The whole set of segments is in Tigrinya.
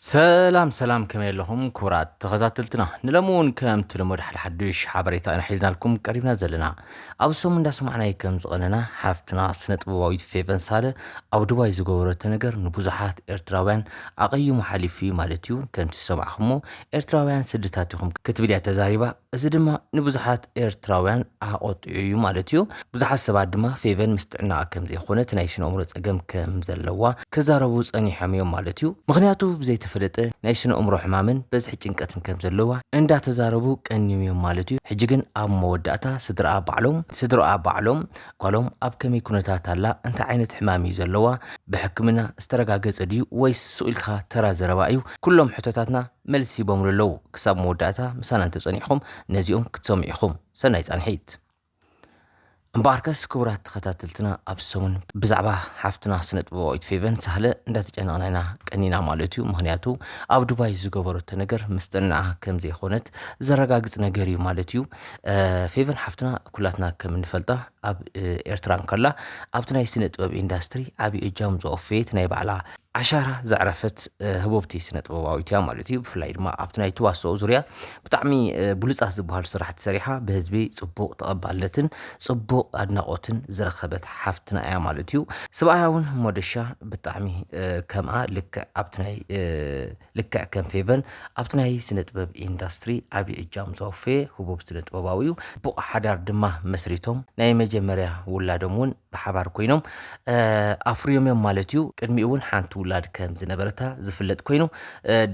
ሰላም ሰላም ከመይ ኣለኹም ክቡራት ተኸታተልትና ንሎሚ እውን ከምቲ ልሙድ ሓደ ሓዱሽ ሓበሬታ ኢና ሒዝናልኩም ቀሪብና ዘለና ኣብ ሰሙን እንዳሰማዕናይ ከም ዝቐነና ሓፍትና ስነ ጥበባዊት ፌቨን ሳለ ኣብ ዱባይ ዝገበረቶ ነገር ንብዙሓት ኤርትራውያን ኣቐይሙ ሓሊፉ እዩ ማለት እዩ ከምቲ ዝሰማዕኹሞ ኤርትራውያን ስድታት ኢኹም ክትብል እያ ተዛሪባ እዚ ድማ ንብዙሓት ኤርትራውያን ኣቆጢዑ እዩ ማለት እዩ። ብዙሓት ሰባት ድማ ፌቨን ምስ ጥዕናኣ ከም ዘይኮነ እቲ ናይ ስነእምሮ ጸገም ከም ዘለዋ ክዛረቡ ጸኒሖም እዮም ማለት እዩ። ምኽንያቱ ብዘይተፈለጠ ናይ ስነእምሮ ሕማምን በዝሒ ጭንቀትን ከም ዘለዋ እንዳተዛረቡ ቀንዮም እዮም ማለት እዩ። ሕጂ ግን ኣብ መወዳእታ ስድራኣ ባዕሎም ስድርኣ ባዕሎም ጓሎም ኣብ ከመይ ኩነታት ኣላ እንታይ ዓይነት ሕማም እዩ ዘለዋ ብሕክምና ዝተረጋገጸ ድዩ ወይስ ሱቅ ኢልካ ተራ ዘረባ እዩ ኩሎም ሕቶታትና መልሲ ሂቦምሉ ኣለዉ ክሳብ መወዳእታ ምሳና እንተጸኒሕኹም ነዚኦም ክትሰምዑ ኢኹም ሰናይ ጻንሒት። እምበኣርከስ ክቡራት ተኸታተልትና ኣብ ሰሙን ብዛዕባ ሓፍትና ስነጥበባዊት ፌቨን ሳህለ እንዳተጨነቕና ኢና ቀኒና ማለት እዩ ምክንያቱ ኣብ ዱባይ ዝገበረቶ ነገር ምስጥንኣ ከም ዘይኮነት ዘረጋግጽ ነገር እዩ ማለት እዩ ፌቨን ሓፍትና ኩላትና ከም እንፈልጣ ኣብ ኤርትራ እንከላ ኣብቲ ናይ ስነ ጥበብ ኢንዳስትሪ ዓብዪ እጃም ዘወፈየት ናይ ባዕላ ዓሻራ ዘዕረፈት ህቡብቲ ስነ ጥበባዊት እያ ማለት እዩ። ብፍላይ ድማ ኣብቲ ናይ ትዋስኦ ዙርያ ብጣዕሚ ብሉጻት ዝበሃሉ ስራሕቲ ሰሪሓ ብህዝቢ ጽቡቕ ተቐባልነትን ጽቡቕ ኣድናቖትን ዝረኸበት ሓፍትና እያ ማለት እዩ። ስብኣያ እውን ሞደሻ ብጣዕሚ ከምኣ ልክዕ ኣብቲ ናይ ልክዕ ከም ፌቨን ኣብቲ ናይ ስነ ጥበብ ኢንዳስትሪ ዓብዪ እጃም ዘወፈየ ህቡብ ስነ ጥበባዊ እዩ። ጽቡቕ ሓዳር ድማ መስሪቶም ናይ መጀመርያ ውላዶም እውን ብሓባር ኮይኖም ኣፍርዮም እዮም ማለት እዩ። ቅድሚኡ እውን ሓንቲ ውላድ ከም ዝነበረታ ዝፍለጥ ኮይኑ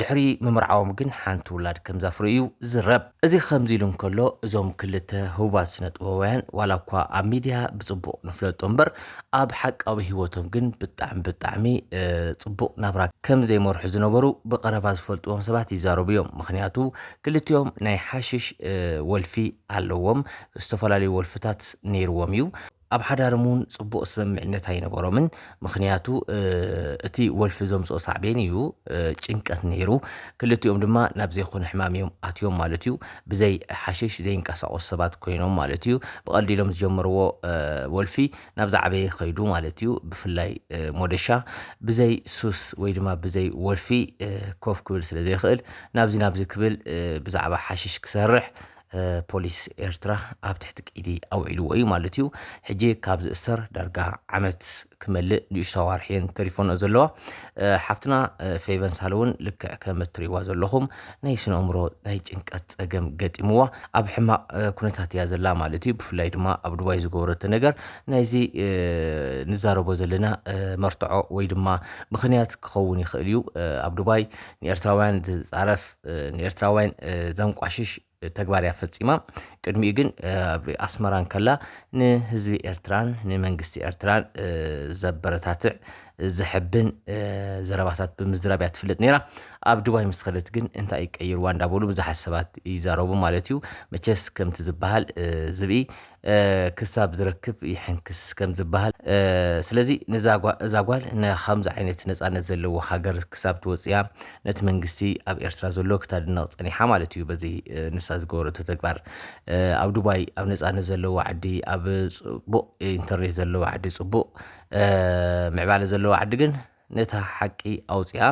ድሕሪ ምምርዓዎም ግን ሓንቲ ውላድ ከም ዘፍሩ እዩ ዝዝረብ። እዚ ከምዚ ኢሉ እንከሎ እዞም ክልተ ህቡባት ስነ ጥበባውያን ዋላ እኳ ኣብ ሚድያ ብፅቡቕ ንፍለጦ እምበር ኣብ ሓቃዊ ህይወቶም ግን ብጣዕሚ ብጣዕሚ ፅቡቕ ናብራ ከም ዘይመርሑ ዝነበሩ ብቐረባ ዝፈልጥዎም ሰባት ይዛረቡ እዮም። ምክንያቱ ክልቲኦም ናይ ሓሽሽ ወልፊ ኣለዎም፣ ዝተፈላለዩ ወልፍታት ነይርዎም እዩ። ኣብ ሓዳርም እውን ጽቡቕ ስምምዕነት ኣይነበሮምን ምኽንያቱ እቲ ወልፊ ዘምጽኦ ሳዕቤን እዩ ጭንቀት ነይሩ ክልቲኦም ድማ ናብ ዘይኮነ ሕማም እዮም ኣትዮም ማለት እዩ ብዘይ ሓሽሽ ዘይንቀሳቐሱ ሰባት ኮይኖም ማለት እዩ ብቐልዲ ኢሎም ዝጀመርዎ ወልፊ ናብ ዝዓበየ ከይዱ ማለት እዩ ብፍላይ ሞደሻ ብዘይ ሱስ ወይ ድማ ብዘይ ወልፊ ኮፍ ክብል ስለ ዘይክእል ናብዚ ናብዚ ክብል ብዛዕባ ሓሽሽ ክሰርሕ ፖሊስ ኤርትራ ኣብ ትሕቲ ቀይዲ ኣውዒልዎ እዩ ማለት እዩ ሕጂ ካብ ዝእሰር ዳርጋ ዓመት ክመልእ ንእሽቶ ኣዋርሕየን ተሪፎኖ ዘለዋ ሓፍትና ፌቨን ሳለ እውን ልክዕ ከም እትሪእዋ ዘለኹም ናይ ስነ ኣእምሮ ናይ ጭንቀት ፀገም ገጢምዋ ኣብ ሕማቕ ኩነታት እያ ዘላ ማለት እዩ ብፍላይ ድማ ኣብ ዱባይ ዝገበረቶ ነገር ናይዚ ንዛረቦ ዘለና መርትዖ ወይ ድማ ምክንያት ክኸውን ይኽእል እዩ ኣብ ዱባይ ንኤርትራውያን ዝጻረፍ ንኤርትራውያን ዘንቋሽሽ ተግባር እያ ፈጺማ ቅድሚኡ ግን ኣብ ኣስመራ እንከላ ንህዝቢ ኤርትራን ንመንግስቲ ኤርትራን ዘበረታትዕ ዘሐብን ዘረባታት ብምዝራብ እያ ትፍለጥ ነይራ ኣብ ድባይ ምስ ኸደት ግን እንታይ ቀይርዋ እንዳበሉ ብዙሓት ሰባት ይዛረቡ ማለት እዩ መቸስ ከምቲ ዝበሃል ዝብኢ ክሳብ ዝረክብ ይሕንክስ ከም ዝበሃል ስለዚ እዛ ጓል ንከምዚ ዓይነት ነፃነት ዘለዎ ሃገር ክሳብ ትወፅያ ነቲ መንግስቲ ኣብ ኤርትራ ዘሎ ክታድነቕ ፀኒሓ ማለት እዩ በዚ ንሳ ዝገበረቶ ተግባር ኣብ ዱባይ ኣብ ነፃነት ዘለዎ ዓዲ ኣብ ፅቡቕ ኢንተርኔት ዘለዎ ዓዲ ፅቡቕ ምዕባለ ዘለዎ ዓዲ ግን ነታ ሓቂ ኣውጺኣ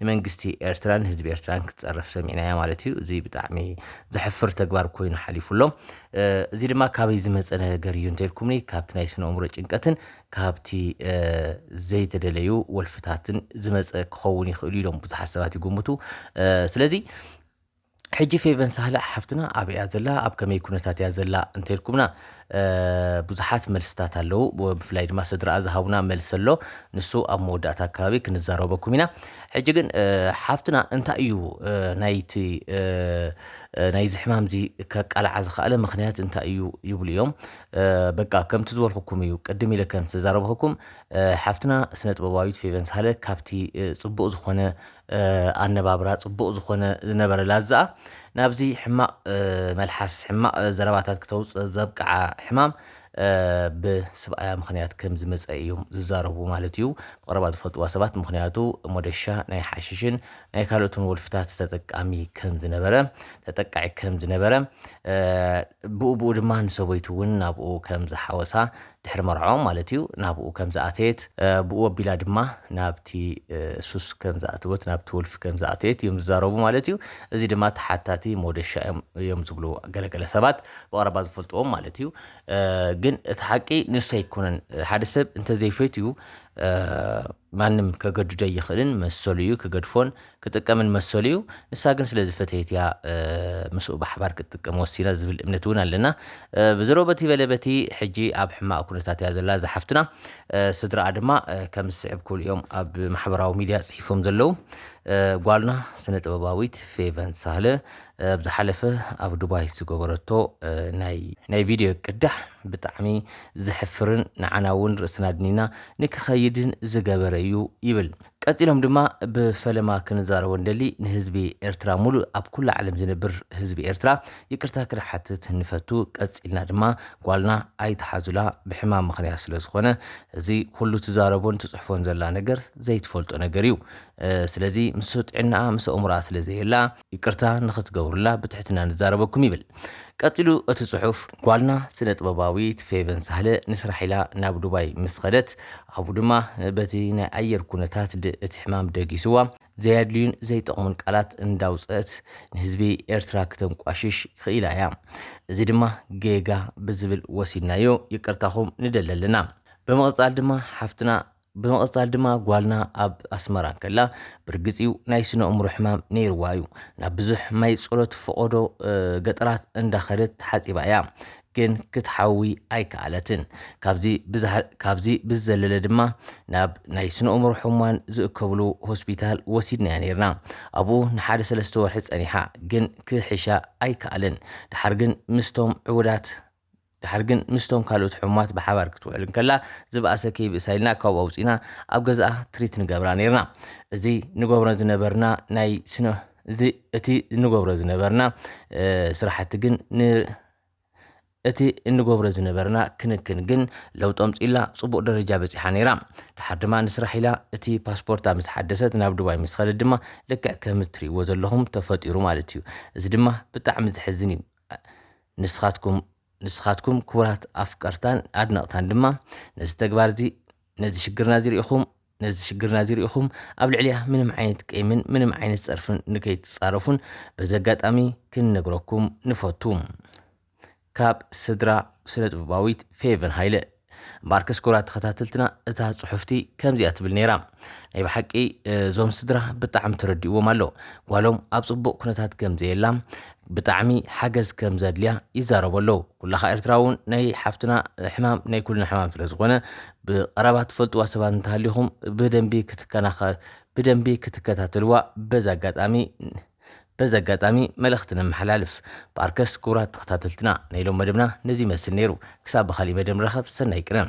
ንመንግስቲ ኤርትራን ህዝቢ ኤርትራን ክትጸርፍ ሰሚዕናያ ማለት እዩ። እዚ ብጣዕሚ ዘሕፍር ተግባር ኮይኑ ሓሊፉ ኣሎ። እዚ ድማ ካበይ ዝመጸ ነገር እዩ እንተልኩምኒ ካብቲ ናይ ስነ ኣእምሮ ጭንቀትን ካብቲ ዘይተደለዩ ወልፍታትን ዝመጸ ክኸውን ይኽእሉ ኢሎም ብዙሓት ሰባት ይግምቱ። ስለዚ ሕጂ ፌቨን ሳህለ ሓፍትና ኣበይ እያ ዘላ ኣብ ከመይ ኩነታት እያ ዘላ እንተልኩምና ብዙሓት መልስታት ኣለዉ ብፍላይ ድማ ስድራኣ ዝሃቡና መልሲ ኣሎ ንሱ ኣብ መወዳእታ ኣካባቢ ክንዛረበኩም ኢና ሕጂ ግን ሓፍትና እንታይ እዩ ናይቲ ናይዚ ሕማም እዚ ከቃልዓ ዝኸኣለ ምክንያት እንታይ እዩ ይብሉ እዮም በቃ ከምቲ ዝበልኩኩም እዩ ቅድም ኢለ ከም ዝተዛረብኩኩም ሓፍትና ስነ ጥበባዊት ፌቨን ሳህለ ካብቲ ፅቡቅ ዝኾነ ኣነባብራ ጽቡቕ ዝኾነ ዝነበረ ላዛኣ ናብዚ ሕማቕ መልሓስ ሕማቕ ዘረባታት ክተውፅእ ዘብቅዓ ሕማም ብስብኣያ ምክንያት ከም ዝመፀ እዮም ዝዛረቡ ማለት እዩ ብቐረባ ዝፈልጥዋ ሰባት ምክንያቱ ሞደሻ ናይ ሓሽሽን ናይ ካልኦትን ወልፍታት ተጠቃሚ ከም ዝነበረ ተጠቃዒ ከም ዝነበረ ብኡ ብኡ ድማ ንሰበይቱ እውን ናብኡ ከም ዝሓወሳ ድሕሪ መርዕኦም ማለት እዩ ናብኡ ከም ዝኣተየት ብኡ ኣቢላ ድማ ናብቲ ሱስ ከም ዝኣተወት ናብቲ ወልፊ ከም ዝኣተየት እዮም ዝዛረቡ ማለት እዩ እዚ ድማ ተሓታቲ ሞደሻ እዮም ዝብሉ ገለገለ ሰባት ብቐረባ ዝፈልጥዎም ማለት እዩ ግን እቲ ሓቂ ንሱ ኣይኮነን ሓደ ሰብ እንተዘይፈትዩ ማንም ከገድዶ ይኽእልን መሰሉ እዩ ክገድፎን ክጥቀምን መሰሉ እዩ፣ ንሳ ግን ስለ ዝፈተየት እያ ምስኡ ብሓባር ክትጥቀም ወሲና ዝብል እምነት እውን ኣለና። ብዘሮ በቲ በለ በቲ ሕጂ ኣብ ሕማቕ ኩነታት እያ ዘላ እዛ ሓፍትና፣ ስድራኣ ድማ ከም ዝስዕብ ክብሉ እዮም ኣብ ማሕበራዊ ሚድያ ጽሒፎም ዘለዉ። ጓልና ስነ ጥበባዊት ፌቨን ሳህለ ኣብ ዝሓለፈ ኣብ ዱባይ ዝገበረቶ ናይ ቪድዮ ቅዳሕ ብጣዕሚ ዘሕፍርን ንዓና እውን ርእስና ኣድኒና ንክኸይድን ዝገበረ እዩ ይብል። ቀጺሎም ድማ ብፈለማ ክንዛረቦ ንደሊ ንህዝቢ ኤርትራ ሙሉእ ኣብ ኩላ ዓለም ዝነብር ህዝቢ ኤርትራ ይቅርታ ክንሓትት ንፈቱ ቀጺልና ድማ ጓልና ኣይትሓዙላ ብሕማም ምኽንያት ስለ ዝኾነ እዚ ኩሉ ትዛረቦን ትጽሕፎን ዘላ ነገር ዘይትፈልጦ ነገር እዩ ስለዚ ምስ ጥዕናኣ ምስ ኣእምሮኣ ስለ ዘየላ ይቅርታ ንኽትገብሩላ ብትሕትና ንዛረበኩም ይብል ቀጺሉ እቲ ጽሑፍ። ጓልና ስነ-ጥበባዊት ፌቨን ሳህለ ንስራሕ ኢላ ናብ ዱባይ ምስ ኸደት ኣብኡ ድማ በቲ ናይ ኣየር ኩነታት ድ እቲ ሕማም ደጊስዋ ዘየድልዩን ዘይጠቕሙን ቃላት እንዳውጸእት ንህዝቢ ኤርትራ ክተንቋሽሽ ኽኢላ እያ እዚ ድማ ጌጋ ብዝብል ወሲድናዮ ይቅርታኹም ንደሊ ኣለና። ብምቕጻል ድማ ሓፍትና ብምቕጻል ድማ ጓልና ኣብ ኣስመራ እንከላ ብርግጽዩ ናይ ስነ እምሮ ሕማም ነይርዋ እዩ ናብ ብዙሕ ማይ ጸሎት ፈቐዶ ገጠራት እንዳኸደት ተሓጺባ እያ ግን ክትሓዊ ኣይከኣለትን ካብዚ ብዝዘለለ ድማ ናብ ናይ ስነ እምሮ ሕሙማን ዝእከብሉ ሆስፒታል ወሲድናያ ነይርና ኣብኡ ንሓደ ሰለስተ ወርሒ ጸኒሓ ግን ክሕሻ ኣይከኣልን ደሓር ግን ምስቶም ዕቡዳት ድሓር ግን ምስቶም ካልኦት ሕሙማት ብሓባር ክትውዕል እንከላ ዝበኣሰ ከይብእሳ ኢልና ካብኡ ኣውጺእና ኣብ ገዝኣ ትሪት ንገብራ ኔርና። እዚ ንገብሮ ዝነበርና ናይ ስነ እዚ እቲ እንገብሮ ዝነበርና ስራሕቲ ግን ን እቲ እንገብሮ ዝነበርና ክንክን ግን ለውጢ ኣምጺኡላ ጽቡቕ ደረጃ በጺሓ ነይራ። ድሓር ድማ ንስራሕ ኢላ እቲ ፓስፖርታ ምስ ሓደሰት ናብ ዱባይ ምስ ኸደት ድማ ልክዕ ከም እትርእይዎ ዘለኹም ተፈጢሩ ማለት እዩ። እዚ ድማ ብጣዕሚ ዘሕዝን እዩ። ንስኻትኩም ንስኻትኩም ክቡራት ኣፍቀርታን ኣድነቕታን ድማ ነዚ ተግባር እዚ ነዚ ሽግርና እዚ ርኢኹም ነዚ ሽግርና እዚ ርኢኹም ኣብ ልዕሊያ ምንም ዓይነት ቂምን ምንም ዓይነት ጸርፍን ንከይትጻረፉን በዚ ኣጋጣሚ ክንነግረኩም ንፈቱ ካብ ስድራ ስነ ጥበባዊት ፌቨን ሃይለ እምበኣርከስ ክቡራት ተኸታተልትና እታ ጽሑፍቲ ከምዚኣ ትብል ነይራ። ናይ ብሓቂ እዞም ስድራ ብጣዕሚ ተረዲእዎም ኣሎ። ጓሎም ኣብ ጽቡቕ ኩነታት ከም ዘየላ ብጣዕሚ ሓገዝ ከም ዘድልያ ይዛረቡ ኣለዉ። ኩላኻ ኤርትራውን ናይ ሓፍትና ሕማም ናይ ኩልና ሕማም ስለ ዝኾነ ብቐረባ ትፈልጥዋ ሰባት እንተሃሊኹም ብደንቢ ክትከናኸ ብደንቢ ክትከታተልዋ በዚ ኣጋጣሚ በዚ ኣጋጣሚ መልእኽቲ ነመሓላልፍ። ብኣርከስ ክቡራት ተኸታተልትና ናይ ሎም መደብና ነዚ ይመስል ነይሩ። ክሳብ ብኻሊእ መደብ ንራኸብ ሰናይ ቅነ።